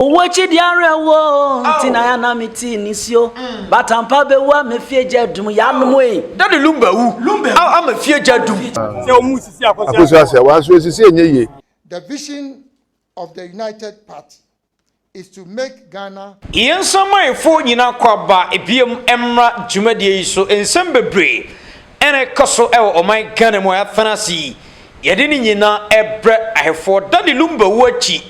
Owu akyi deɛ awerɛhoɔ o, nti na yɛ na me ti nisuo. Batampa bɛwu ama fie gya adum, yɛ anom ei. Daddy Lumba wu ama fie gya adum. Akosua Asea, wanso asisi ɛnyɛ yie. The vision of the United Party is to make Ghana. Yɛn nsamanfoɔ nyinaa kɔ aba biom mmra dwumadie yi so nsɛm bebree. Ɛna ɛkɔ so wɔ ɔman Ghana mu a yɛafena ase yi. Yɛde ne nyinaa brɛ Ahwɛfoɔ. Daddy Lumba wuo akyi,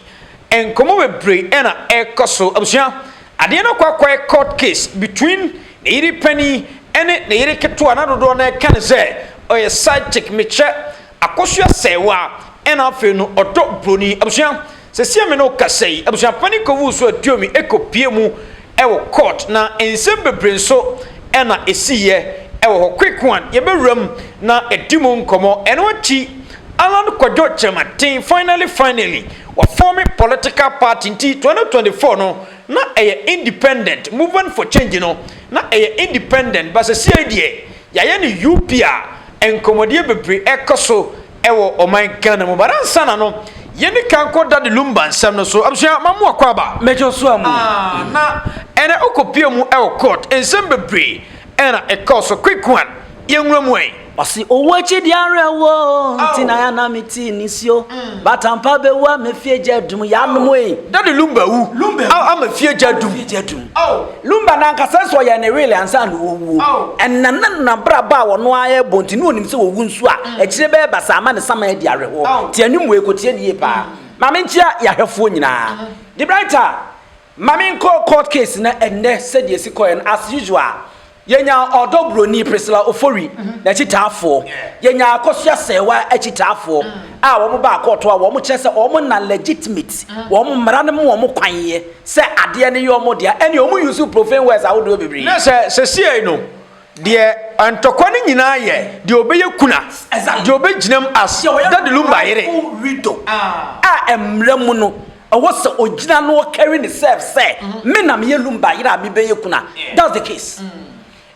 nkɔmmɔ bebree na ɛrekɔ so. Abusua, adeɛ no akɔ akɔyɛ court case between ne yere panin ne ne yere ketewa, na dodoɔ no ara ka ne sɛ ɔyɛ side chick. Mekyɛ. Akosua sɛe wo a ɛna afei no ɔdɔ broni abusua sesie me ne wo kasa yi abusua panin kɔwuu so atuo mi ɛkɔ pie mu ɛwɔ court na nsɛm bebree nso ɛna ɛsi yɛ ɛwɔ hɔ quick one yɛ bɛwura mu na ɛdi mu nkɔmɔ ɛno akyi Allan kwadwo kyerɛmaten finally finally wa forme political party nti 2024 no na ɛyɛ independent movement for change no na ɛyɛ independent but sesiei deɛ Yɛayɛ no UP a nkɔmmɔdeɛ bebree ɛrekɔ so wɔ ɔman Ghana mu. But ansa na no, yɛni kan kɔ Daddy Lumba nsɛm no so. Abusua, mamu akɔ aba. Major so amu. Ah, na ɛnɛ wokɔpie mu wɔ court. Nsɛm bebree ɛna ɛkɔɔ so. Quick one, yɛnwura mu ɛ. Ɔse owu akyi deɛ awerɛhoɔ o, nti na ya na me ti nisuo, but ampa bɛwu ama fie gya adum, yɛanom ei. Daddy Lumba awu ama fie gya adum. Lumba no ankasa nso ɔyɛɛ ne will ansa na ɔrewuo. Ɛnam ne nanab'rabɔ a ɔno ara rebɔ nti na ɔnim sɛ ɔwu nso a, akyire bɛyɛ basaa ama ne saman adi awerehoɔ. Te anim wei kɔtie no yie paa. Ma me nkyia y'ahwɛfoɔ nyinaa. De Brighter, ma me nkɔ court case no ɛnnɛ sɛdeɛ ɛsi kɔeɛ no, as usual, yɛnyaa ɔdɔ buroni, Priscilla Ofori, n'akyitaafoɔ. Yɛnyaa Akosua Serwa akyitaafoɔ a wɔn baa court hɔ a wɔn kyerɛ sɛ wɔn na legitimate, wɔn mmara no ma wɔn kwan yɛ. sɛ adeɛ no yɛ wɔn dea, ɛnneɛ wɔn use profane words ahodoɔ bebree. Na sɛ sɛsiei no, deɛ ntɔkwa no nyinaa yɛ deɛ ɔbɛyɛ kuna, deɛ ɔbɛgyina mu as Daddy Lumba yere, a mmara mu no, ɛwɔ sɛ ɔgyina na ɔcarry ne self sɛ, me na meyɛ Lumba yere a mebɛyɛ kuna, that's the case.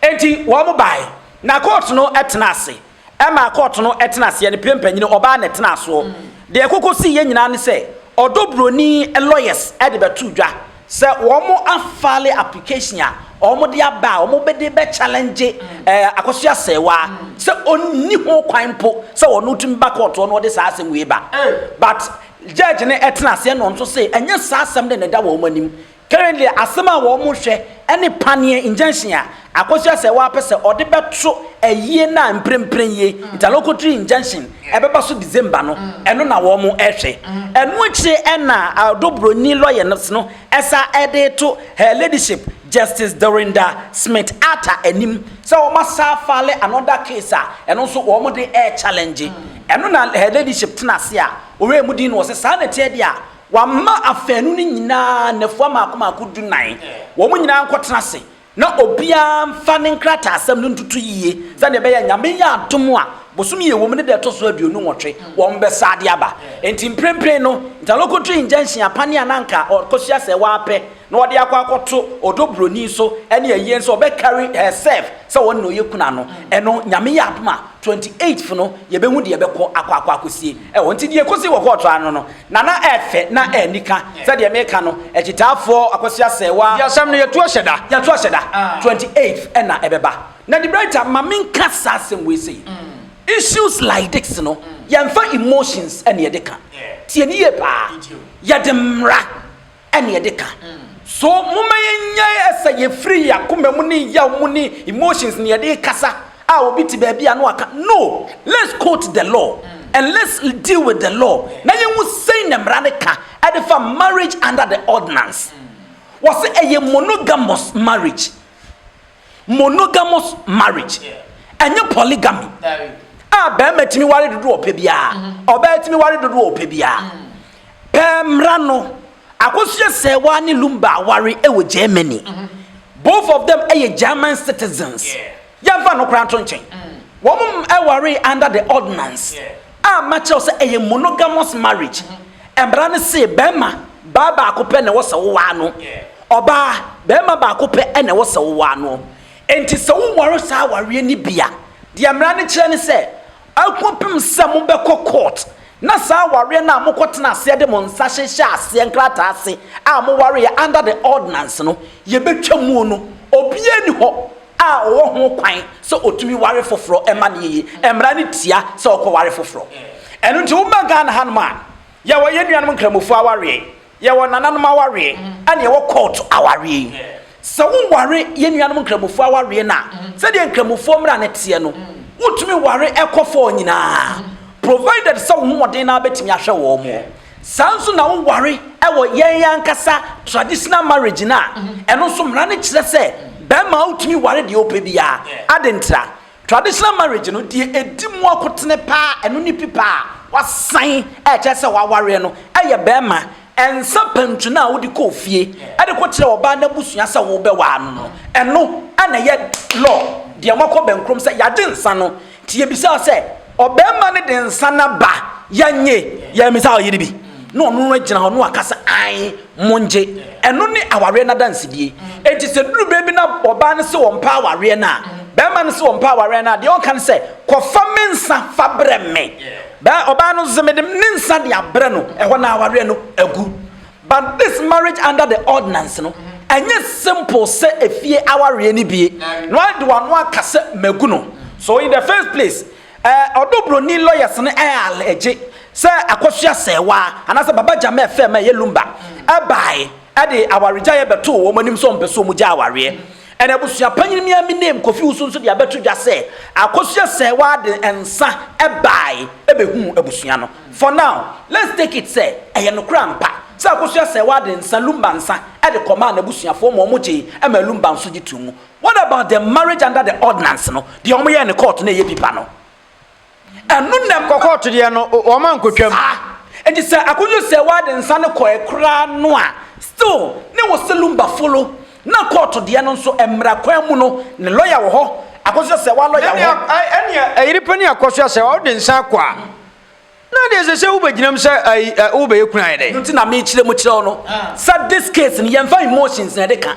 Enti wɔn baeɛ, na court no tena ase, Ɛmaa kɔɔto no tenaa aseɛ no, pire mpanyini, ɔbaa na ɛtenaa soɔ. Deɛ ɛkokɔsiiɛ nyinaa ne sɛ, ɔdɔ buroni lawyers de bɛtoo dwa sɛ wɔn afile application a wɔn de aba a wɔn bɛde bɛ challenge Akosua Asɛewaa sɛ ɔnni ho kwan mpo sɛ ɔno ɔtumi ba kɔɔto hɔ na ɔde saa asɛm wei ba. But judge no tenaa aseɛ na ɔno nso see ɛnyɛ saa asɛm no na ɛda wɔn anim. Currently asɛm a wɔn mo hwɛ ɛne paneɛ, injunction, a Akosua sɛ wa pɛ sɛ ɔde bɛ to ayie no a mprempren yie, interlocutory injunction, ɛbɛba so December no, ɛno na wɔn mo ɛhwɛ. Ɛno akyire ɛna Ado Broni Lawyers no ɛsa ɛde to Her Ladyship Justice Dorinda Smith Arthur anim sɛ wɔn asa file another case a ɛno nso wɔn mo de ɛrechallenge. Ɛno na Her Ladyship tena ase a ɔwɛɛ mu dinn na ɔse saa na ɛteɛ deɛ a, Wɔama afanu no nyinaa nnafua mmaako mmaako dunan. Wɔn nyinaa nkɔtena ase, na obiara mfa ne nkrataasɛm no ntoto yiye, sɛnea ɛbɛyɛ a Nyame yɛ adom a, bosome a ɛwom no da a ɛtɔ so aduonu nwɔtwe, wɔbɛsan de aba. Enti mprempren no, Ntalokotri Injunction apanne a na anka ɔkɔsua sɛ wɔapɛ na wɔde akɔ akɔto ɔdɔ buroni so ne ayie nso, ɔbɛ carry herself sɛ ɔno na ɔyɛ kunu ano. Ɛno, Nyame yɛ adom a, twenty eighth no, yɛbɛhu deɛ ɛbɛkɔ akɔ akɔ akɔsie wɔ. Nti deɛ ɛkɔsii wɔ kɔɔto ano no, Na na ɛyɛ fɛ na ɛyɛ anika. Sɛ deɛ meka no, akyitaafoɔ, akwasia sɛɛwa. Deɛ asɛm no yɛ to ahyɛ da. Yɛ to ahyɛ da, 28th ɛna ɛbɛba. Na De Bryta, ma me nka saa asɛm wei sei, issues like this no, yɛnfa emotions ɛna yɛde ka. Tie no yie paa. Yɛde mmra. ɛne ɛde ka. So momma yɛnnyae ɛsɛ yɛfiri yɛn akoma mu ne yaw mu ne emotions ne yɛde rekasa a obi te baabi a na waka no let's quote the law and let's deal with the law na yɛnhu sɛn na mmara no ka ɛde fa marriage under the ordinance wɔse ɛyɛ monogamous marriage monogamous marriage ɛnyɛ polygamy a bɛrima tumi ware dodo ɔpɛ biara mm-hmm. ɔbɛrɛ tumi ware dodo ɔpɛ biara mm. pɛɛ mmra no akosua sɛ waa ne lumba aware ɛwɔ germany mm-hmm. both of them ɛyɛ german citizens yɛnfa no koraa nto nkyɛn mm. wɔn ɛware under the ordinance. A makyerɛ wo sɛ ɛyɛ monogamous marriage. Mmara no se bɛrima, baa baako pɛ na ɛwɔ sɛ wowaa no. Ɔbaa, bɛrima baako pɛ na ɛwɔ sɛ wowaa no. Enti sɛ wonware saa awareɛ no bi a, deɛ mmara no kyerɛ ne sɛ, ɛkɔpem sɛ mobɛkɔ court na saa awareɛ no a mokɔtena aseɛ de mo nsa hyehyɛɛ aseɛ nkrataa ase a mowareeɛ under the ordinance no, yɛbɛtwa muo no, obiara nni hɔ a ɔwɔ ho kwan sɛ ɔtumi ware foforɔ ma no yie. Mmara no tia sɛ ɔkɔware foforɔ. Ɛno nti woba Ghana hanom a, yɛwɔ yɛn nuanom nkramofoɔ awareɛ, yɛwɔ nananom awareɛ, ɛna yɛwɔ court awareɛ. Sɛ woware yɛn nuanom nkramofoɔ awareɛ no a, sɛdeɛ nkramofoɔ mmara no teɛ no, wotumi ware ɛkɔfɔɔ nyinaa, provided sɛ wo hoɔden no ara bɛtumi ahwɛ wɔn. Saa nso na wo ware wɔ yɛn ankasa traditional marriage no a, ɛno nso mmara no kyerɛ sɛ barima wo tumi ware deɛ wo pɛ biara. Ade ntra? Traditional marriage no deɛ ɛdi mu akotene paa ɛno ne pi paa wasan ɛkyerɛ sɛ wawareɛ no ɛyɛ barima nsa pantu no a wode kɔ ofie ɛde kɔ kyerɛ ɔbaa no abusua sɛ wo bɛ waa no no ɛno ɛna ɛyɛ law deɛ moakɔ bɛnkrom sɛ yagye nsa no Nti yɛbisaa sɛ, Ɔbarima no de nsa no aba? Yɛnnye! Yɛammisa hɔ yere bi, na ɔno no agyina hɔ na waka sɛ, Ae, mongye. Ɛno ne awareɛ no adansedie. Enti sɛ ɛduru berɛ bi na ɔbaa no se ɔmpɛ awareɛ no a, barima no se ɔmpɛ awareɛ no a, deɛ ɔka ne sɛ, Kɔfa me nsa fa brɛ me. Ɔbaa no se mede ne nsa de abrɛ no, ɛhɔ na awareɛ no agu. But this marriage under the ordinance no ɛnyɛ simple sɛ efie awareɛ no bie na wade wano aka sɛ magu no so in the first place eh, ɔdo broni lawyers no eh allege sɛ akosua sɛɛwaa anasɛ baba gyamɛ fɛ ma ɛyɛ lumba ɛbae ɛde awaregyaeɛ bɛtoo wɔn anim sɛ ɔmpɛ sɛ wɔn gya awareɛ ɛna abusua panyin mi ami name kofi wusu nso de abɛto dwa sɛ akosua sɛɛwaa de nsa ɛbae ɛbɛhuu abusua no For now, let's take it sɛ ɛyɛ nokorɛ ampa sɛ Akosua-Serwaa de nsa, Lumba nsa, de kɔmaa n'abusuafoɔ ma wɔgyee maa Lumba nso gye toom. What about the marriage under the ordinance no, deɛ wɔyɛɛ no kɔɔto na ɛyɛ bipa no? Ɛno na. Kɔ kɔɔto deɛ no, wɔn ankɔtwam. Saa. Enti sɛ Akosua-Serwaa de nsa no kɔɛ koraa no a, still ne wɔ sɛ Lumba folo na kɔɔto deɛ no nso, mmara kwan mu no, ne lɔya wɔ hɔ, Akosua-Serwaa lɔya wɔ hɔ. Ɛnea, ɛyere pa ni Akosua-Serwaa, wode nsa kɔ a. na deɛ ɛsɛ sɛ wobɛgyinam sɛ ayi ɛ wobɛyɛ kunu ayɛ dɛ no nti na mekyerɛ mu kyerɛ wo no sɛ this case no yɛmfa emotions na ɛde ka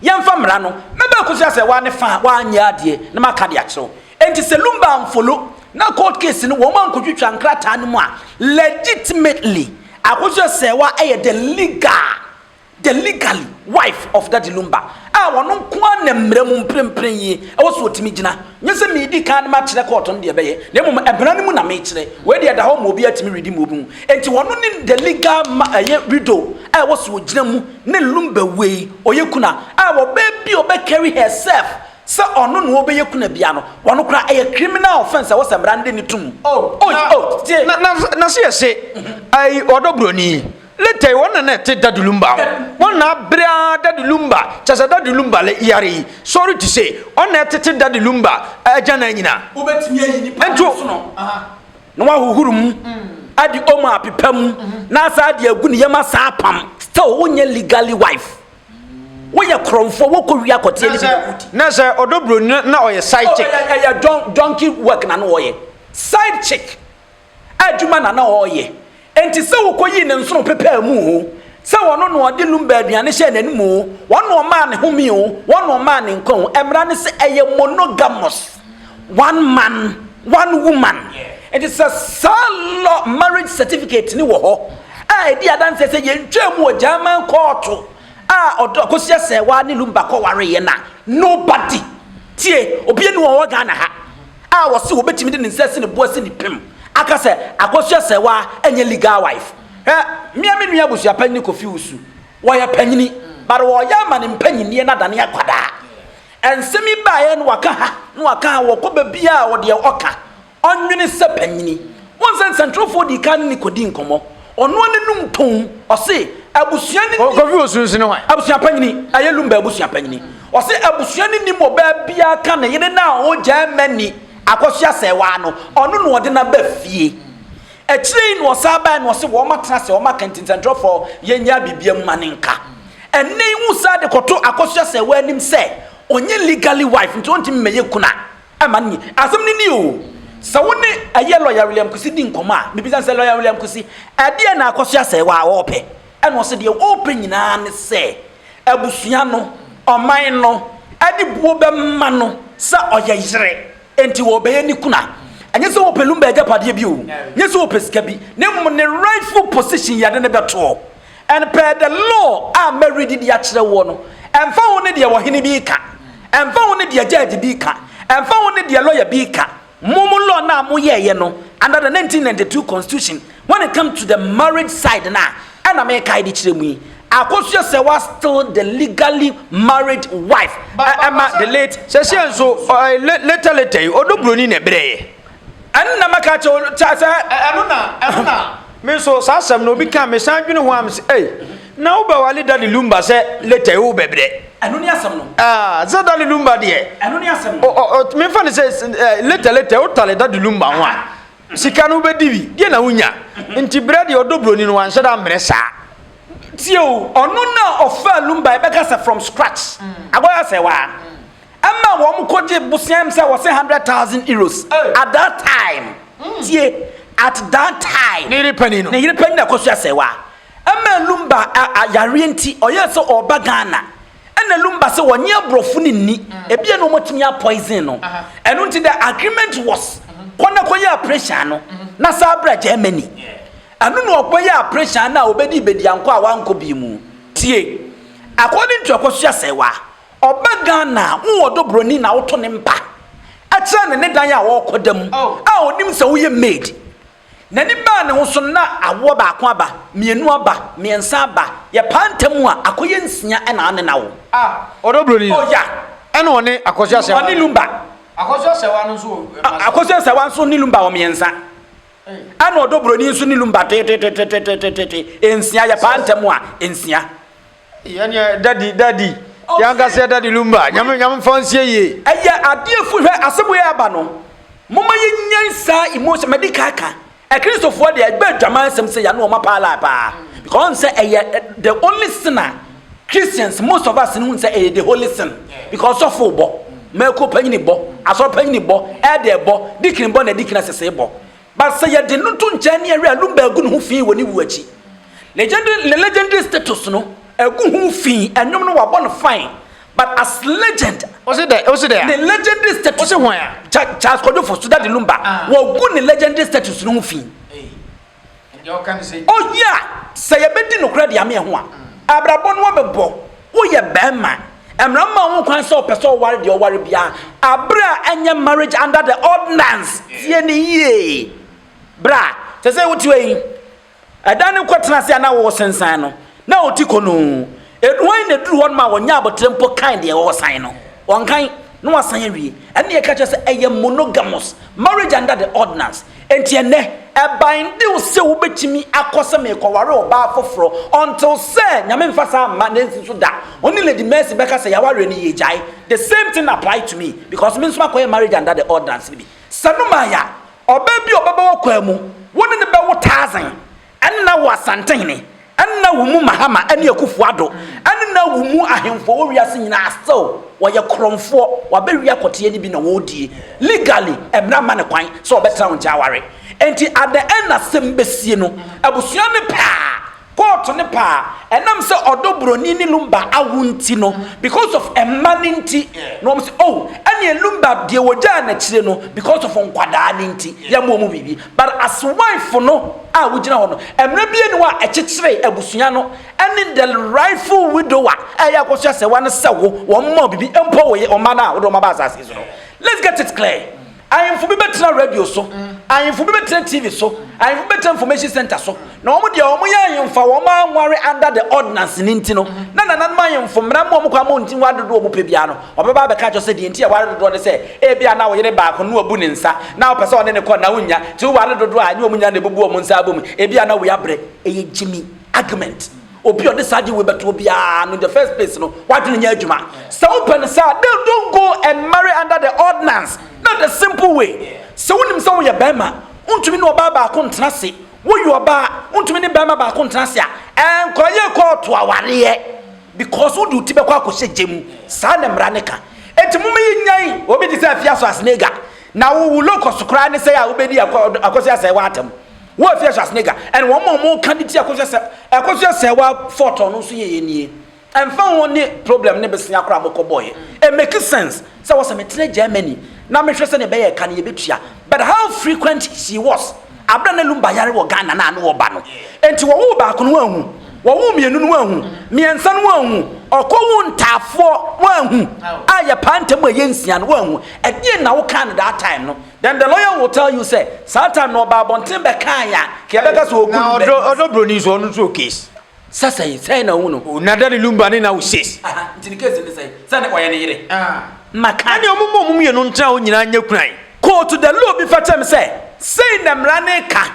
yɛmfa mmara no mɛbɛ akosi asɛ waa ne fa a waanyɛ adeɛ na maka de akyerɛ wo nti sɛ lumba amfolo na court case no wɔn ankɔtwitwa nkrataa no mu a legitimately akosi asɛ wa ɛyɛ the legal The legally wife of Daddy Lumba a ɔno nko ara na mmara mu mprempren yi ɛwɔ sɛ ɔtumi gyina. Nyɛ sɛ meredi kan de makyerɛ kɔɔto no deɛ ɛbɛyɛ, na mmom mmara no mu na mekyerɛ. Wei deɛ ɛda hɔ ma obiara tumi redi ma obi hu. Enti ɔno ne the legal ma ɛyɛ widow a ɛwɔ sɛ ɔgyina mu ne Lumba wei ɔyɛ kunu a a ɔbaa bi a ɔbɛ carry herself sɛ ɔno na ɔbɛyɛ kunu a bia no ɔno koraa ɛyɛ criminal offence a ɛwɔ sɛ mmara no de no to mu. Oh, na, na, na, na se yɛse, ai, ɔdɔ buroni. Later yi, wɔn na ɛte Daddy Lumba ho. Wɔn na abere ara Daddy Lumba, kyerɛ sɛ Daddy Lumba yare yi, sɔre ti sei. Wɔn na ɛtete Daddy Lumba agyanan nyinaa. Wobɛtumi ayi nipa no nsono na wɔahohoro mu, ade omo apepa mu, na asan de agu ne yam asan apam. Still, wonyɛ legally wife. Woyɛ korɔmfoɔ, wokɔ wie akɔteɛ ne bi na wodi. Na sɛ ɔdɔ buroni no na ɔyɛ side chick. Oh, ɛyɛ donkey work na no ɔyɛ. Side chick. adwuma na na ɔreyɛ. Enti sɛ wokoyii ne nsono pepaa mu oo, sɛ ɔno na ɔde lumba aduane hyɛɛ n'anom oo, wɔn na wɔmaa ne home oo, wɔn na wɔmaa ne nkwa oo. Mmara no sɛ ɛyɛ monogamous, one man, one woman. Enti sɛ saa lɔ marriage certificate no wɔ hɔ a ɛdi adanseɛ sɛ yɛntwaa mu wɔ German kɔɔto a ɔdɔ Akosi Asɛɛwaa ne Lumba kɔwareeɛ no a, nobody, tie, obiara nni hɔ a ɔwɔ Ghana ha, a ɔse wɔbɛtumi de ne nsa asi ne bo asi ne pem aka sɛ Akosua Serwaa nyɛ legal wife. Hwɛ, me a me nua abusua panyin ne Kofi Wusu, wɔyɛ panyini but wɔreyɛ ama ne mpanyinneɛ no adane akwadaa. Nsɛm yi baeɛ no waka ha na waka ha, ɔkɔ baabiara a ɔdeɛ ɔka, ɔnwene sɛ panyini. Wohu sɛ nsɛntwerɛfoɔ dii kan ne no kɔdii nkɔmmɔ. Ɔnoa n'anum tɔn ɔse abusua no. Kofi Osunsi ne hwan? Abusua panyini, ɛyɛ Lumba abusua panyini. Ɔse abusua no nim ɔbaa biara ka ne yere no a ɔwɔ Germany akɔsoa asɛewaa no, ɔno na ɔde no aba fie. Akyire yi na ɔsan baeɛ na ɔse wɔatena ase, wɔaka nti nsɛntwerɛfoɔ yɛnyaa biribiara mu ma no nka. Ɛnnɛ yi wosan de kɔto akɔsoa asɛewaa anim sɛ ɔnyɛ legally wife nti ɔntumi mmɛyɛ kunu a. Ɛma no ni. Asɛm no ni o. Sɛ wo ne ɛyɛ Lɔya William Kwesi di nkɔmmɔ a, mebisa no sɛ, Lɔya William Kwesi, ɛdeɛn na akɔ so asɛe wɔ a wɔrepɛ? Ɛna ɔse deɛ wɔrepɛ nyinaa ne sɛ abusua no, ɔman no de buo bɛma no sɛ ɔyɛ yere, enti wɔrebɛyɛ ne kunu a, ɛnyɛ sɛ wɔpɛ Lumba agyapadeɛ bi o, ɛnyɛ sɛ wɔpɛ sika bi, na mmom ne rightful position yɛde no bɛtoɔ. And per the law a mɛredi de akyerɛ woɔ no, ɛmfa ho ne deɛ ɔhene bi reka, ɛmfa ho ne deɛ judge bi reka, ɛmfa ho ne deɛ lawyer bi reka, mo mo law no a moyɛeɛ no under the 1992 constitution when it comes to the marriage side no a ɛna merekae de kyerɛ mu yi, akɔsoɛ sɛ woa still the legally married wife ɛma the late. Sɛsɛ nso, ɔɛ later later yi, ɔdɔ buroni na ɛbrɛɛ yɛ. Ɛnna mɛka kyerɛ wo kyɛ sɛ. Ɛno na, ɛno na. Me nso, saa asɛm no, obi ka, mesan dwene ho a, mese, ei, na wobɛwale Dudley Lumba sɛ later yi, wobɛbrɛ. Ɛno ne asɛm no. Ah, sɛ Dudley Lumba deɛ. Ɛno ne asɛm no. O, o, o, memfa no sɛ, eh, later, later, wotale Dudley Lumba ho a, sika no wobɛdi bi, deɛ na wonya. Nti berɛ deɛ ɔdɔ buroni no, wanhyɛ da ammrɛ saa. Tie o, ɔno na ɔfaa Lumba, yɛbɛka sɛ from scratch. Agorɔ ayɛ asɛe, waa. Ɛma wɔn kɔ gye boseam sɛ wɔse hundred thousand euros at that time. Mm. Tie, at that time. Ne yere panyin no. Ne yere panyin na ɛkɔ so asɛwa. Ɛma Lumba yareɛ nti ɔyɛ sɛ ɔba Ghana. Ɛna Lumba sɛ wɔnye aborɔfo no nni. Mm. Ebia na wɔatumi apoison no. Ɛno nti the agreement was mm-hmm. kɔ na kɔyɛ operation no mm-hmm. na saa bra Germany. Ɛno na ɔkɔyɛ operation no a ɔbɛdi bɛdi ankɔ a wankɔ bi mu. Tie, according to ɛkɔ so asɛwa. Ɔba Ghana a, wo ɔdɔ buroni na woto ne mpa kyerɛ no ne dan a ɔrekɔda mu a ɔnim sɛ woyɛ maid. N'ani baa ne ho so no na awoɔ baako aba, mmienu aba, mmiɛnsa aba, yɛpaa ntam a, akɔyɛ nsia na ɔne no awo. Ah, ɔdɔ buroni no. Oh yeah. Ɛna ɔne Akwasu Asɛwa. Ɔne Lumba. Akwasu Asɛwa no nso wɔ mmiɛnsa. Akwasu Asɛwa nso ne Lumba wɔ mmiɛnsa. Ɛna ɔdɔ buroni nso ne Lumba tetetetetetete, nsia, yɛpaa ntam a, nsia. Yɛneɛ daddy daddy. Yankaseɛ daddy lumba. Nyame nyame mfa nsie yie. Ɛyɛ adeɛ fu hwɛ asɛm wei aba no moma yɛnyan saa emotion madi ka ka akristofoɔ deɛ ɛbɛ adwaman nsɛm sɛ yɛne wɔn apaa laa paa because ɔn sɛ ɛyɛ the only sin a Christians most of us no hu sɛ ɛyɛ the holy sin because sɔfo bɔ mɛko panyini bɔ asɔre panyini bɔ ɛdɛ bɔ dikini bɔ na dikini asese bɔ But sɛ yɛde no to nkyɛn ne yɛwe a, Lumba agu ne ho fi wɔ ne wu akyi. Legendary, ne legendary status no agu ho fi, ɛnwom no wabɔ no fine, but as legend, Ose dɛ, ose dɛ a. ne legendary status Ose hwan a. Cha, Charles Kwadwofo, Sudah de Lumba, wɔagu ne legendary status no ho fi. Ei, ɛnde ɔka no sɛ. Oh yeah, sɛ yɛbɛdi nokorɛ de ame ɛho a, abrabɔ no abɛbɔ. Woyɛ barima, mmara mma wo ho kwan sɛ ɔpɛ sɛ ɔware deɛ ɔware biara, berɛ a ɛnyɛ marriage under the ordinance. Tie ne yie, bra. Sɛ sɛ wote hɔ yi, ɛdan no kɔtena ase a na woresensan no, na wo ti kɔnoo. Ɛduru hɔ yi na ɛduru hɔ no ma wɔnyɛ abotire mpo kan deɛ ɔresan no. Wɔnkan. na wasan awie. Ɛnna yɛka kyerɛ sɛ ɛyɛ monogamous marriage under the ordinance. Enti ɛnnɛ, ɛbindiw sɛ wobɛtumi akɔ sɛ merekɔware ɔbaa foforɔ until sɛ Nyame mfa saa mma na ansi so da. Ɔne Lady Mercy bɛka sɛ yɛawareɛ no yɛregyae. The same thing applied to me because me nso makɔyɛ marriage under the ordinance no bi. Sɛ no maayɛ a, ɔbaa bi a ɔbɛba w'akwaa mu, wo ne no bɛwo thousand. Nna wo Asantehene, nna wo mu Mahama ne Akuffo Addo, nna wo mu ahemfo a ɔwɔ wiase nyinaa still wɔyɛ korɔmfoɔ, wɔabɛwia kɔteɛ no bi na wɔredie. Legally, mmara mma no kwan sɛ ɔbɛtena wo nkyɛn aware. Enti at the end asɛm bɛsie no, abusua no pɛ a, kɔɔto no pɛ a, ɛnam sɛ ɔdɔ buroni ne Lumba awo nti no, because of mma no nti, na wɔn se oh, ɛneɛ Lumba deɛ wɔgyaa no akyire no because of nkwadaa no nti, yɛmmɔ mu biribi. But as wife no a wogyina hɔ no, mmara biara nni hɔ a ɛkyekyere abusua no ne the rightful widow a ɛyɛ akɔso asɛwa no sɛ wo, wɔn mma wo biribi, mpo wo ye, wo mma no a wode wɔn aba asase yi so no. Let's get it clear. Ahemfo bi bɛtena radio so, ahemfo bi bɛtena TV so, ahemfo bi bɛtena information center so, Na wɔn deɛ wɔn yɛ ahemfo a wɔn anware under the ordinance no nti no, na nananom ahemfo mmara mu a wɔn kwan ma wɔnti nware dodoɔ a wɔpɛ biara no, wɔbɛba abɛka akyerɛ sɛ deɛ nti a ɛware dodoɔ ne sɛ ebia na wo yere baako na wabu ne nsa na wopɛ sɛ ɔne ne kɔ na wonnya, nti woware dodoɔ a ɛnyɛ wɔn nyinaa na ɛbubu wɔn nsa abɔ mu, ebia na woabrɛ. Ɛyɛ gyimi argument. Obi a ɔde saa adeɛ wei bɛtoɔ biara no in the first place no, w'adwene nyɛ adwuma. Sɛ wopɛ no saa a, then don't go and marry under the ordinance. Not the simple way. Sɛ wonim sɛ woyɛ barima, wontumi ne ɔbaa baako ntena ase, Woyɛ ɔbaa a, wontumi ne barima baako ntena ase a, nkɔyɛ kɔɔto awareɛ because wode wo ti bɛkɔ akɔhyɛ gya mu. Saa na mmara no ka. Enti momma yɛnnyae obi te sɛ Afia Schwarzenegger. Na wo wo local so koraa ne sɛe a wobɛdi Akwa Ɔdɔ, Akosua Asɛɛwa atam. Wo Afia Schwarzenegger, ɛne wɔn a wɔka de ti Akosua Asɛɛ, Akosua Asɛɛwa fought ɔno nso yɛyɛ nie. Ɛmfa ho ne problem ne bsea koraa a mokɔbɔeɛ, it make sense sɛ wɔ sɛ metena Germany na mehwɛ sɛdeɛ ɛbɛyɛ ɛka no yɛbɛtua. But how frequent she was aberɛ a na Lumba yare wɔ Ghana no a na ɔba no. Enti wɔwoo baako no woanhu, wɔwoo mmienu no woanhu, mmiɛnsa no woanhu, ɔkɔwoo ntaafoɔ woanhu a yɛpaa ntam a ɛyɛ nsia no woanhu. Ɛdeɛn na wokaa no that time no? Then the lawyer will tell you sɛ saa time no ɔbaa abɔnten bɛkaeɛ a nka yɛbɛka sɛ ɔɔku no bɛ. Na ɔdɔ broni nso ɔno nso ɔɔ case. Sɛ sɛn, sɛn na ɔhu no. O na Daddy Lumba ne Nawu Sees. Aha, nti ne case ne sɛn? Sɛ ne ɔyɛ ne yere. Ah, maka. Ɛne ɔmo ma ɔmo mmienu ntena hɔ nyinaa nyɛ kunu ayi. Kootu de law bi fakyɛ me sɛ, sei na mmara no reka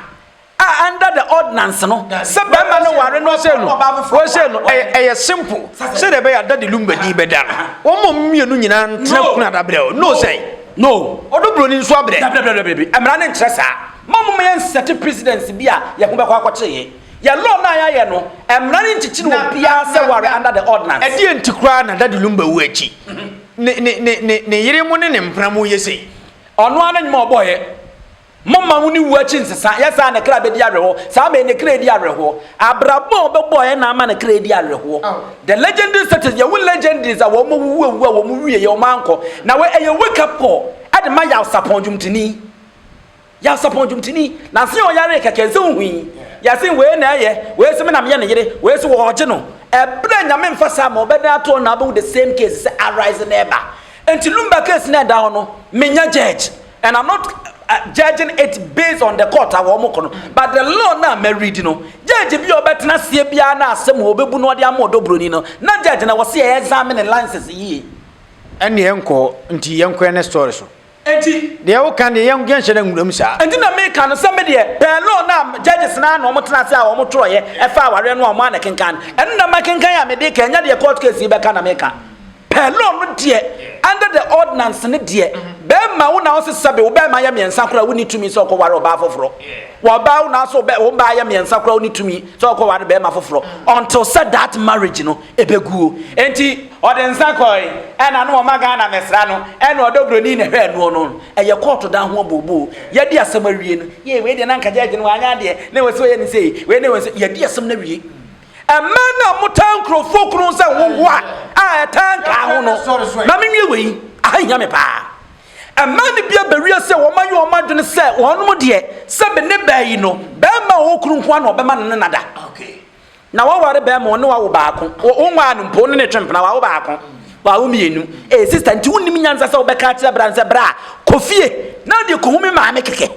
a under the ordinance no, sɛ barima no ware no sei no, wei sei no, ɛyɛ, ɛyɛ simple. Sɛdeɛ ɛbɛyɛ a Daddy Lumba din bɛda no. Wɔn ma ɔmo mmienu nyinaa ntena kunu adabrɛ o. No sɛn? No. Ɔdɔ buroni nso abrɛ. Dabi, dabi, dabi, dabi, mmara no nkyerɛ saa. Ma ɔmo ma yɛnsɛte precedence bi a yɛn ho bɛkɔ akɔkyere yɛn. Yɛn law no a yɛayɛ no, mmara no nkyekyere obiara sɛ ware under the ordinance. Ɛdeɛn nti koraa na Daddy Lumba wu akyi ne ne ne ne ne yere mo ne ne mpena mo yɛ sei? Ɔno ara ne nnwuma a ɔbɔeɛ. Momma mo ne wuo akyi nsesa, yɛ saa a ne kra bɛdi awerɛhoɔ. Saa bɛn ne kra di awerɛhoɔ? Abrabɔ a ɔbɛbɔeɛ na ama ne kra adi awerɛhoɔ. The legendary status, yɛwo legendaries a wɔn awuwu awuwu a wɔn wieɛ wɔn ankɔ. Na wei ɛyɛ wake up call de ma Yawsapɔn dwomtoni. Nyansapɔn dwomtoni, Nanse ɔyaree kɛkɛ, nse wo hui, Yɛse wei na ɛyɛ, wei se me na meyɛ ne yere, wei se wɔɔgye no Ɛberɛ Nyame mfa saa ma ɔbɛdan ato hɔ na wobɛhu the same case sɛ arise na ɛba Nti Lumba case na ɛda hɔ no, menyɛ judge and I'm not judging it based on the court a wɔn kɔ no but the law no a mɛ read no, judge bi a ɔbɛtena aseɛ biara na asɛm a wɔbɛbu no ɔde ama ɔdɔ buroni no, na judge na wɔse ɛɛzame ne license yie. Ɛnneɛ nkɔ hɔ, nti yɛnkɔ yɛn next story so. Enti. Deɛ woka deɛ yɛn yɛn hyɛ dɛ nwura mu saa. Enti na meka no sɛ me deɛ pɛɛ no na judges no ara na wɔn tena ase a wɔn twerɛeɛ ɛfa awareɛ no a wɔn ara na ɛkenkan no. Ɛno na makenkan a mede reka ɛnyɛ deɛ court case yi bɛka na meka. Pɛɛ law no deɛ under the ordinance no deɛ bɛrima wo na ɔse sɛbe wo bɛrima yɛ mmiɛnsa koraa wonni tumi sɛ ɔkɔware ɔbaa foforɔ. Wɔ ɔbaa wo na ɔse wo baa yɛ mmiɛnsa koraa wonni tumi sɛ ɔkɔware bɛrima foforɔ until sɛ that marriage no ɛbɛguo. Enti. Ɔde nsa kɔe ɛna no ɔma Ghana mɛsra no ɛna ɔdɔ broni na ɛhwɛ noɔ no ɛyɛ kɔɔto daa ho abooboo yɛadi asɛm awie no yei wei deɛ na nka judge no wanyɛ adeɛ na wasi ɔyɛ no sei wei na wasi yɛadi asɛm no awie ɛmmaa no a motaa nkurɔfoɔ kunu sɛ hohoa a ɛtaa nkaa ho no ma menwie wei aha hia me paa ɛmmaa no bi abɛwie sɛ wɔn ayɛ wɔn adwene sɛ wɔn deɛ sɛ bene baa yi no bɛrima a ɔwɔ kunu nko a na ɔbɛma no ne nada na waware bɛrima ɔne wawo baako wonwaa no mpo ne ne twe mpena wawo baako wawo mmienu ee eh, sista nti wonnim nyansa sɛ wobɛka akyerɛ bra nsɛ bra kɔ fie na wode kɔhu me maame kɛkɛ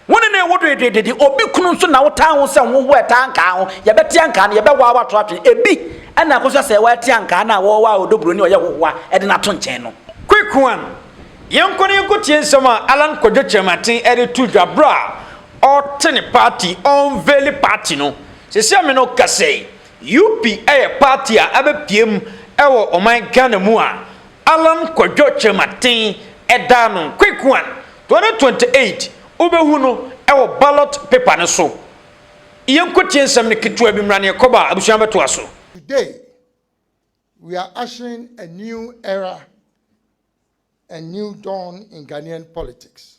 wone ne wo doedoedede obi kunu nso na wotaa ho sɛ woho ɛtaa nkaa ho yɛbɛte ankaa no yɛbɛwaa wato atwe ebi ɛna akɔsɛ sɛ wɔate ankaa no a wɔwɔ a ɔdɔburo ne ɔyɛ hohoa ɛde no ato nkyɛn no quick one yɛnkɔ ne yɛnkɔ tie nsɛm a alan kwadwo kyerɛmaten ɛde to dwa berɛ a ɔte ne party ɔnveli party no Sɛsi a me ne wo kasa yi, UP yɛ party a abɛpue mu wɔ ɔman Ghana mu a Allan Kwadwo Kyerematen da ano, Quick One, 2028, wobɛhu no wɔ ballot paper no so. Yɛnkɔ tie nsɛm no ketewa bi, mmra na yɛkɔ ba a, abusua bɛtoa so. Today we are ushering a new era and new dawn in Ghanaian politics.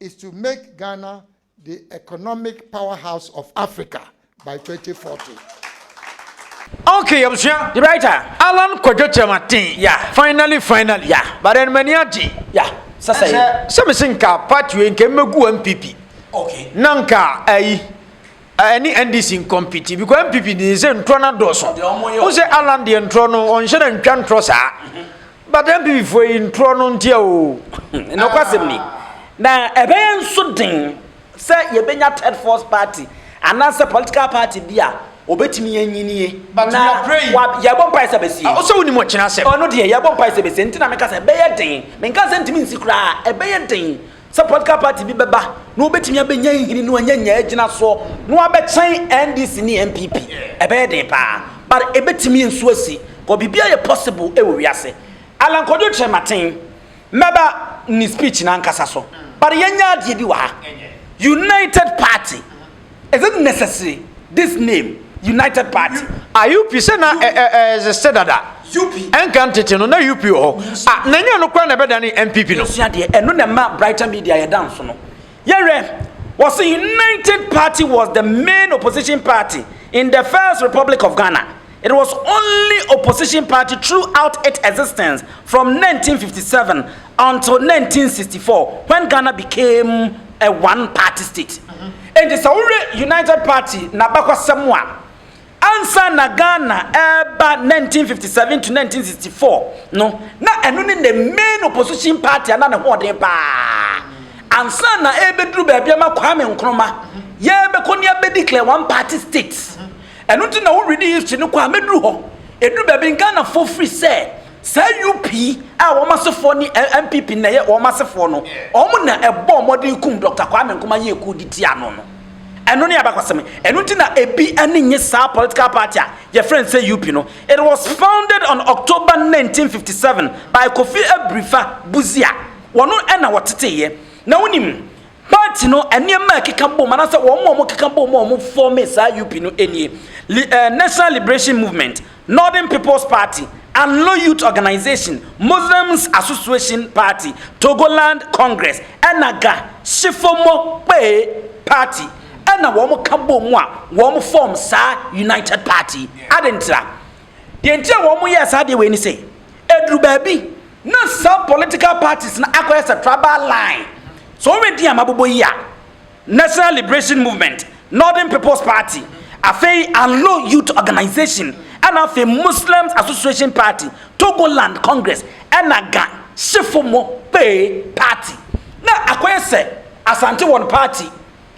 is to make Ghana the economic powerhouse of Africa by 2040. Okay, abusua, the writer, Allan Kwadwo Kyerematen, yeah, finally, finally, yeah, but then mani agye, yeah, sɛ sɛ, sɛ mese nka part wei nka mmɛgu MPP, okay, na nka ayi, ɛne NDC nkɔmpiti because NPP de sɛ ntorɔ no adɔɔso wo sɛ Alan deɛ ntorɔ no ɔnhyɛ no ntwa ntorɔ saa but NPP foɔ yi ntorɔ no ntia o nokwasɛm ni na ɛbɛyɛ nso den sɛ yɛbɛnya third force party anaasɛ political party bi a obetumi anyinie na yɛbɔ mpae sɛ bɛsie ah, ɔsɛ wonim ɔkyena sɛ ɔno deɛ yɛbɔ mpae sɛ bɛsie nti na meka sɛ ɛbɛyɛ den menka sɛ ntumi nsi koraa ɛbɛyɛ den sɛ political party bi bɛba na wɔbɛtumi abɛnya nhini no anya nya agyina soɔ na wabɛkyɛn NDC ne NPP ɛbɛyɛ den paa but ɛbɛtumi nso asi kɔ biribia yɛ possible ɛwɔ wiase Alan Kwadwo kyerɛ maten mɛba ne speech no ankasa so but yɛnya adeɛ bi wɔ ha United Party Is it necessary this name United Party? A UP sɛ na ɛsɛ dada. Ɛnka ntete no na UP wɔ hɔ. A na nyɛ no kora na ɛbɛdane NPP no. Yɛsua deɛ ɛno na ɛma Brighter Media yɛda nso no. Yɛhwɛ wɔse United Party was the main opposition party in the first Republic of Ghana. It was only opposition party throughout it existence from 1957 until 1964 when Ghana became a one party state. Enti sɛ wohwɛ United Party n'abakɔsɛm a ansa na Ghana ɛreba 1957 to 1964 no na ɛno ne the main opposition party ana ne hoɔden paa ansa na ɛrebɛduru baabi ama Kwame Nkrumah yɛbɛkɔ ne abɛdeclare one party state. Ɛno nti na wo ready history no kɔ a mɛduru hɔ. Ɛduru baabi no Ghanafoɔ firi sɛ saa UP a wɔn asefoɔ ne NPP na ɛyɛ wɔn asefoɔ no, wɔn na ɛbɔɔ mmɔden kum Dɔkta Kwame Nkrumah yɛɛ coup de tiaa no no. Ɛno ne abakɔsɛm. Ɛno nti na ɛbi ani nnye saa political party a yɛfrɛ no sɛ UP no. It was founded on October 1957 by Kofi Abrifa Busia. Wɔn na wɔteteeɛ. Na wonim Party no nneɛma a ɛkeka bom anaasɛ wɔn a wɔkeka bom a wɔfɔɔmee saa UP no nie, Li, eh, National Liberation Movement, Northern People's Party, Anlo Youth Organization, Muslims Association Party, Togoland Congress, ɛna Ga, Shifomo Kpee Party, ɛna wɔka bom a wɔfɔɔm saa United Party. Adɛn ntira? Deɛ nti a wɔn yɛɛ saa adeɛ wei ne sɛ, ɛduru baabi na saa political parties no akɔyɛ sɛ tribal line. So wɔn din a mabobɔ yi a, National Liberation Movement, Northern People's Party, afei Anlo Youth Organization, ɛna afei Muslims Association Party, Togoland Congress, ɛna Ga Shifo mo pee party. Na akɔyɛ sɛ Asante wɔn party.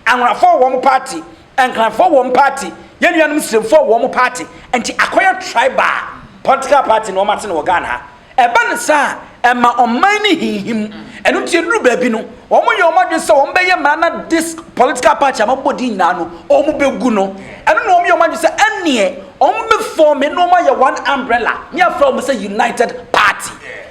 Anworafoɔ wɔ wɔn party, Nkranfoɔ wɔ wɔn party, yɛn nuanom Siremfoɔ wɔ wɔn party, nti akɔyɛ tribal political party na wɔate no wɔ Ghana ha. Ɛba no saa a, ɛma ɔman no hinhim. Ɛno nti ɛduru baabi no, wɔyɛ wɔn adwene sɛ wɔbɛyɛ mmara na this political party a mabɔ din nyinaa no, wɔbɛgu no. Ɛno na wɔyɛ wɔn adwene sɛ ɛnneɛ wɔbɛfɔɔme na wɔayɛ one umbrella ne afrɛ wɔn sɛ United Party.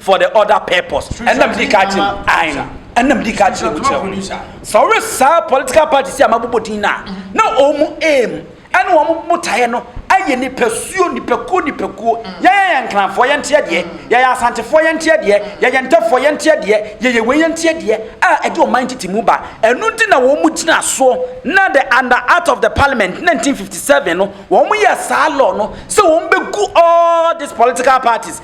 for the other purpose ɛna mede ka kyerɛ mu ae no ɛna mede ka kyerɛ mu kyerɛ mu sɛ ɔwe saa political party si a mabobɔ din no a na ɔmu aim ɛne wɔn botaeɛ no ayɛ nipasuo nipakuo nipakuo yɛyɛ yɛn nkranfoɔ yɛnteɛ deɛ yɛyɛ asantefoɔ yɛnteɛ deɛ yɛyɛ ntɛfoɔ yɛnteɛ deɛ yɛyɛ wei yɛnteɛ deɛ a ɛde ɔman tete mu ba ɛno nti na wɔn mu gyina soɔ na the under act of the parliament 1957 no wɔn yɛ saa law no sɛ wɔn bɛgu all these political parties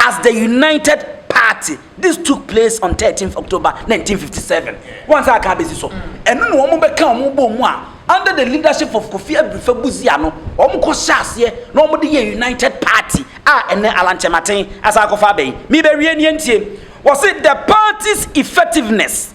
As the United Party, this took place on thirteenth October nineteen fifty seven. Wɔn nsa aka abesi so. Ɛno na wɔn bɛka wɔn bɔɔ mu a, under the leadership of Kofi Abirifa Busia no, wɔn kɔ hyɛ aseɛ na wɔn de yɛ United Party a ɛnɛ Alankyɛmaten asan akɔfa abɛn. Mebɛwie nie ntie. Wɔse the party's effectiveness.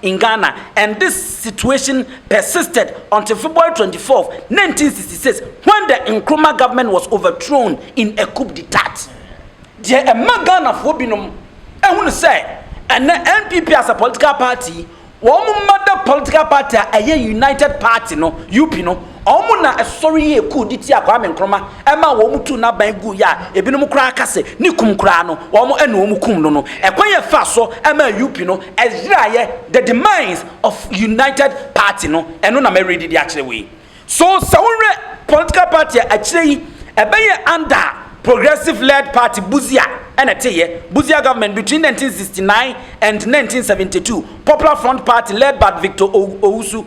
In Ghana, and this situation persisted until February twenty four, nineteen sixty six, when the Nkrumah government was overthrown in a coup d'etat. Deɛ ɛma Ghanafoɔ binom hunu sɛ ɛnɛ NPP as a political party, wɔn mmada political party a ɛyɛ United Party no, UP no, Wɔn na ɛsɔre yɛɛ kuw de tiaa Kwame Nkrumah, ɛmaa wɔn tuu n'aban guu yɛ a ebinom koraa ka sɛ ne kum koraa no, wɔn na wɔn kum no no. Ɛkwan a ɛfaa so maa UP no yeraeɛ, the demise of United Party no, ɛno na mɛredi de akyerɛ wo yi. So sɛ wohwɛ political party a akyire yi ɛbɛyɛ under progressive led party, Busia na ɛteeɛ, Busia government between 1969 and 1972, Popular Front Party led by Victor Owusu,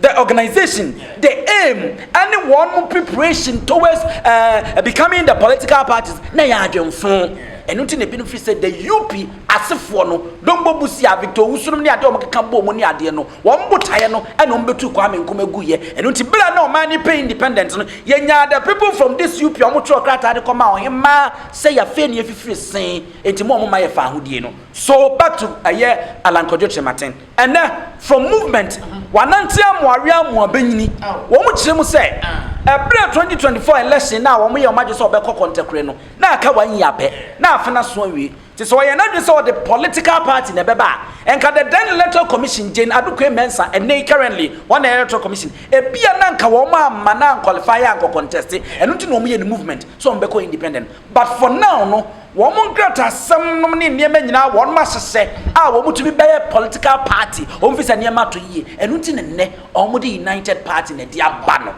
the organization, the aim, and one preparation towards uh, becoming the political parties. Na yɛ adwenfo. Ɛno nti na ebinom fi sɛ the UP asefoɔ no Dombo Busia Victor Owusunom ne adeɛ wɔn keka bɔ wɔn ne adeɛ no wɔn botaeɛ no ɛna wɔn bɛtu Kwame Nkrumah gu yɛ. Ɛno nti bere a na ɔman ne pɛ independent no yɛnyaa the people from this UP a wɔtwerɛ krataa de kɔma ɔhemaa sɛ yɛafei ne yɛfifiri sen nti mo a wɔma yɛfa ahodie no. So back to ɛyɛ Alankɔdwo Kyerematen. Ɛnnɛ, From Movement, Wɔanante amoa we amoa bɛnyini, wɔkyerɛ mu sɛ, ɛberɛ 2024 election no a wɔyɛ wɔn adwene sɛ wɔbɛkɔ kɔntɛkorɛ no, na aka one year pɛ, na afe no aso awie. Nti sɛ wɔyɛ n'adwene sɛ wɔde political party na ɛbɛba a, nka the then Electoral Commission, Jane Adukwei Mensah, ɛnnɛ yi currently wɔn na ɛyɛ Electoral Commission, ebia na nka wɔamma no anqualify ankɔ contest, ɛno nti na wɔyɛ no movement sɛ wɔbɛkɔ independent. But for now no, wɔn nkratasɛm nom ne nneɛma nyinaa wɔnom ahyehyɛ a wɔn tumi bɛyɛ political party, wɔn fi sɛ nneɛma to yie, ɛno nti na nnɛ wɔn de united party na ɛde aba no.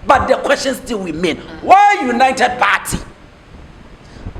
But the question still remain, why united party?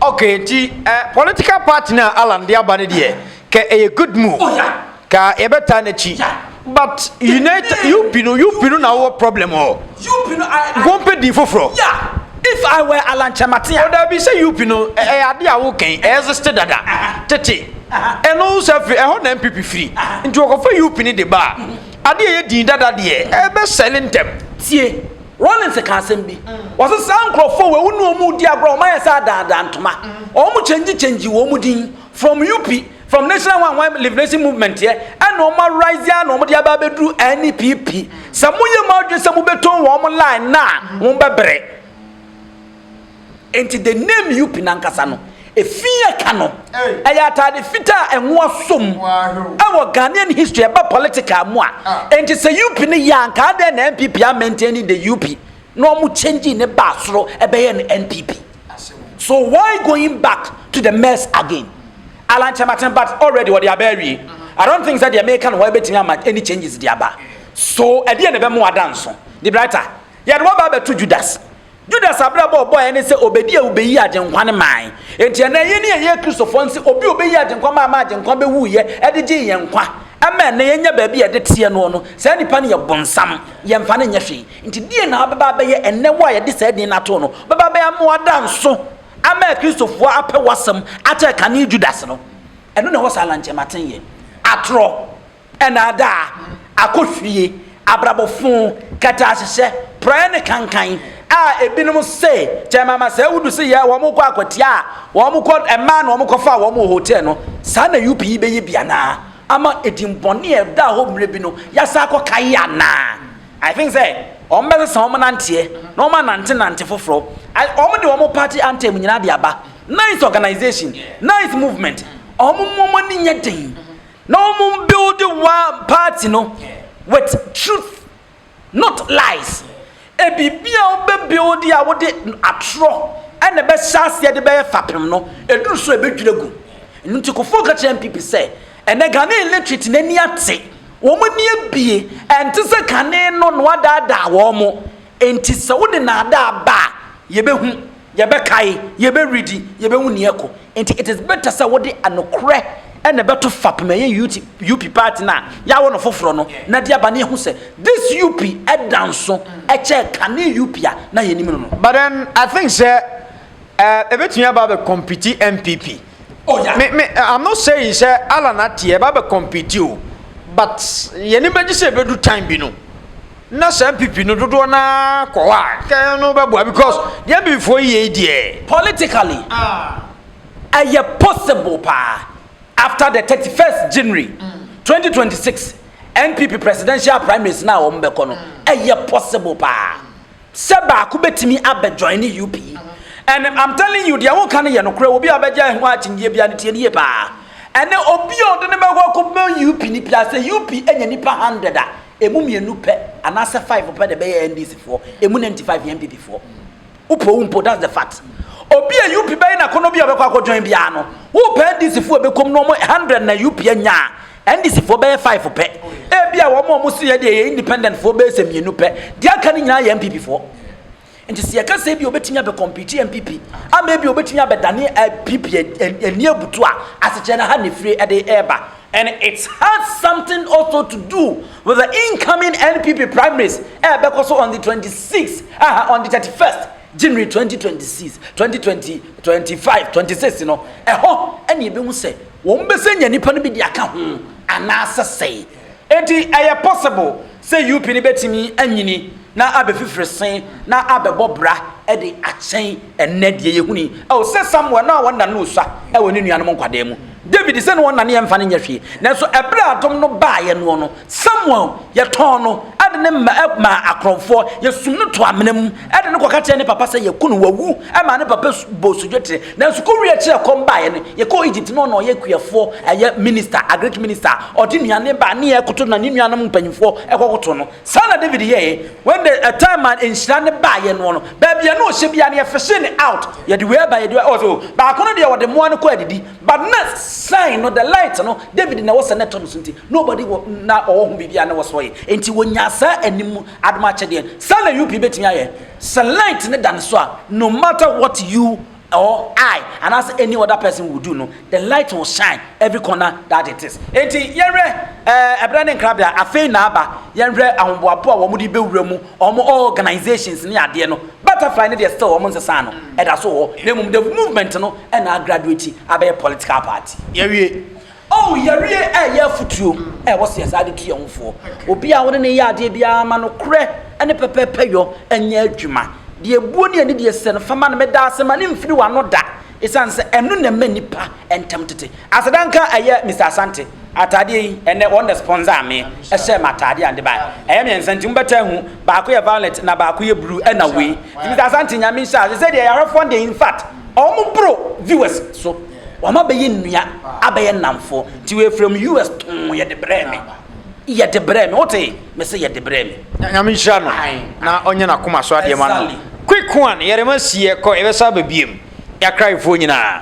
Okay, nti eh, political party no a Allan de aba no deɛ, kɛ ɛyɛ good move? Oh yeah! Ka yɛbɛtaa n'akyi. But United UP no UP no na wɔwɔ problem hɔ. UP no I, I Wɔmpɛ din foforɔ. Yeah. If I were Alan Kyerematen a. Ɔdaabi sɛ UP no ɛyɛ ade a wokɛn ɛɛzeste dada tete. Ɛno nso afiri ɛhɔ na NPP firi. Nti wɔkɔfa UP no de ba a ade a ɛyɛ din dada deɛ ɛbɛsɛle ntɛm. Tie, Rawlings ka asɛm bi. Ɔse saa nkurɔfoɔ wei wo ne wɔn redi agorɔ a wɔayɛ sɛ adaadaa ntoma. Wɔn kyɛngyi kyɛngyi wɔn din. From UP, from National One One Liberation Movement yɛ, ɛna wɔn arise a na wɔn de aba abɛduru NPP. Sɛ mo yɛ mo adwene sɛ mo bɛtɔn wɔn line na a, mo bɛbrɛ. Nti the name UP nankasa no, efi yɛ ka no, ɛyɛ ataade fitaa a ɛnwo asom. Ɛwɔ Ghanaian history ɛba political mu a, nti sɛ UP no yɛ a, nka adɛn na NPP a maintain the UP? na ɔmo changing ne baa soro ɛbɛyɛ no NPP so why going back to the mess again Alan Kyerematen but already wɔde aba awie I don't think sɛ deɛ meka no hɔ ɛbɛtumi ama any changes de aba so ɛdeɛ na ɛbɛmo ada nso de brighter yɛde wɔba abɛto Judas Judas abrabɔ ɔbɔɛ ne sɛ obedi a obeyi agyenkwa ne man enti ɛnɛ yɛ ne ɛyɛ kristofoɔ nse obi obeyi agyenkwa maa ma agyenkwa bɛwu yɛ ɛde gye yɛn nkwa ɛma ɛnɛ yɛnya baabi a ɛde teɛ noɔ no saa nipa no yɛ bonsam yɛmfa no nyɛ hwee Enti deɛn na wobɛba abɛyɛ ɛnnɛ, wo a yɛde saa din no ato wo no? Wobɛba abɛyɛ ama wɔada nso ama Akristofoɔ apɛ w'asɛm akyɛ kane Judas no. Ɛno na ɛwɔ saa lankyɛmatenyɛ, atorɔ, nnaadaa, akɔhwie, abrabɔ fo, kɛtɛahyehyɛ, porɔeɛ ne kankan a ebinom se kyɛ mama sɛ wodu se yɛ wɔn kɔ akwatia a wɔn kɔ mmaa na wɔn kɔfa wɔn wɔ hotel no. Saa na UP yi bɛyɛ bi anaa? Ama edin bɔne a ɛdaa hɔ mmerɛ bi no yɛasan akɔ kae anaa? I think sɛ wɔn bɛ sesa wɔn nanteɛ na wɔn anante nante foforɔ. Wɔn de wɔn party anthem nyinaa de aba. Nice organization, nice movement. Wɔn mu wɔn ani nyɛ den. Na wɔn build one party no with truth not lies. Ebiribi a wɔbɛ build a wɔde atorɔ ɛna ɛbɛ hyɛ aseɛ de bɛyɛ fapem no eduru so ebedwiri gu. Ɛnu nti Kufuor ka kyerɛ NPP sɛ ɛnɛ Ghana illiterate n'ani ate. Wɔn ani abue, ɛnte sɛ kane no na wɔadaadaa wɔn. Enti sɛ wode nnaadaa ba a, yɛbɛhu, yɛbɛkae, yɛbɛredi, yɛbɛhu nea ɛkɔ. Enti it is better sɛ wode nokorɛ na ɛbɛto fapem a ɛyɛ UT, UP party no a yɛawo no foforɔ no na de aba na yɛhu sɛ this UP da nso kyɛɛ kane UP a na yɛnim no no. But then I think sɛ Eh, ebetumi aba abɛ compete NPP. Oh yeah. Me me I'm not saying sɛ Alan ati ɛba abɛ compete o, but yɛne bɛgye sɛ ebedu time bi no. Na sɛ NPP no dodoɔ na kɔ hɔ a, kɛ no bɛboa because deɛ NPPfoɔ yi yɛ yi deɛ. Politically, ɛyɛ possible paa after the thirty first January twenty twenty six NPP presidential primaries na a wɔn bɛkɔ no, ɛyɛ possible paa. Sɛ baako bɛtumi abɛ joine UP and I'm telling you deɛ woka no yɛ nokorɛ obi a ɔbɛgyae ho akyinnyɛ biara no tie no yie paa ɛnɛ obi a ɔde no bɛkɔ akɔbɔ UP no pia sɛ UP anya nipa hundred a ɛmu mmienu pɛ anaasɛ five pɛ na ɛbɛyɛ NDC foɔ ɛmu ninety five yɛ NPP foɔ wopɛ wo mpo that's the fact obi a UP bɛyɛ nakɔnɔ bi a ɔbɛkɔ akɔ join biara no wopɛ NDC foɔ ɛbɛkɔm no ɔmo hundred na UP anya a NDC foɔ bɛyɛ five pɛ, ebia wɔn a wɔso yɛ deɛ yɛ independent foɔ bɛyɛ sɛ mmienu pɛ, deɛ aka no nyinaa yɛ NPP foɔ. Nti sɛ yɛka sɛ ebia obetumi abɛ compete NPP ama ebia obetumi abɛdane NPP eh, eh, eh, ani abutu a, asekyerɛ no ha na efiri ɛde ɛreba. And it has something also to do with the incoming NPP primaries ɛbɛkɔ so on the 26 aha on the 31st January 2026 2020 25 26 no ɛhɔ ɛna ebehu sɛ Wɔn bɛsɛ nya nipa no bi de aka ho anaasɛ sɛe. Enti ɛyɛ possible sɛ UP no bɛtumi anyini na abɛ fifiri se na abɛbɔ bra de akyɛn ɛnnɛ deɛ yɛhuni. Ɛwɔ sɛ Samuel na wɔn nane osua ɛwɔ ne nuanom nkwadaa mu. David sɛ na wɔn nane ɛmfa no nyɛ hwee. Nanso ɛberɛ a adom no baeɛ noɔ no Samuel, yɛtɔn no de no maa akorɔmfoɔ, yɛsum no to amena mu de no kɔka kyerɛɛ ne papa sɛ yɛaku no, wawu, maa ne papa bɔɔ sodwetere. Nanso kowie akyiri a ɛkɔm baeɛ no, yɛkɔɔ Egypt na ɔno ɔyɛ kuafoɔ, ɛyɛ minista, Agric minista, ɔde nnuane ba ne yɛkoto na ne nuanom mpanyimfoɔ kɔkoto no. Saa na David yɛeɛ, when the a time a nhyira no baeɛ noɔ no, baabi a na ɔhyɛ biara no yɛfehyee no out, yɛde wei aba, yɛde wei aba, ɔse o, baako no deɛ wɔde mmoa no kɔ adidi, But na sign no, the light no, David na ɛwɔ sɛ na ɛtɔ no so nti, nobody wɔ na ɔwɔ ho biribi a na wɔsɔ yɛ. Enti wɔnyaa saa anim mu adom akyɛdeɛ. Saa na UP bɛtumi ayɛ. Sɛ light no da ne so a, no matter what you or I anaasɛ any other person will do no, the light will shine every corner that it is. Enti yɛnhwɛ ɛɛ ɛberɛ ne nkrabea, afei na aba, yɛnhwɛ ahoboaboa a wɔn de bɛwura mu Wɔn organisations ne adeɛ no, Butterfly no deɛ still wɔn nsesaa no, ɛda so wɔ hɔ, na mmom the movement no na a graduate abɛyɛ political party. Yɛawie. Oh, yɛawie ɛreyɛ afutuo a ɛwɔ sɛ yɛ saa de tu yɛn ho foɔ. Obi a wo ne no reyɛ adeɛ biara, ma nokorɛ ne pɛpɛɛpɛyɔ nyɛ adwuma. Deɛ ɛbuo ne anidie sɛ no, fa ma no. Meda ase, ma no mfiri w'ano da. Esiane sɛ ɛno na ɛma nnipa ntam tete. Asedanka ɛyɛ Mister Asante ataadeɛ yi, ɛnnɛ wɔn na sponsor me, ɛhyɛ m'ataadeɛ a mede baeɛ. Ɛyɛ mmiɛnsa nti mobɛtaa ahu, baako yɛ violet na baako yɛ blue ɛna wei. Nti Mister Asante Nyame nhyira wo, sesei deɛ yarefoɔ no deɛ infact wɔn boro viewers so, wɔn abɛyɛ nnua, abɛyɛ nnamfoɔ, nti wei from US tɔn yɛde brɛɛ me. yɛ de brɛ me wote me se yɛ de brɛ me. Nyame nhyira no na ɔnyɛ n'akoma so adeɛ ma no. Quick one yɛrema si yɛkɔ yɛbɛsa aba biem yɛakraefoɔ nyinaa.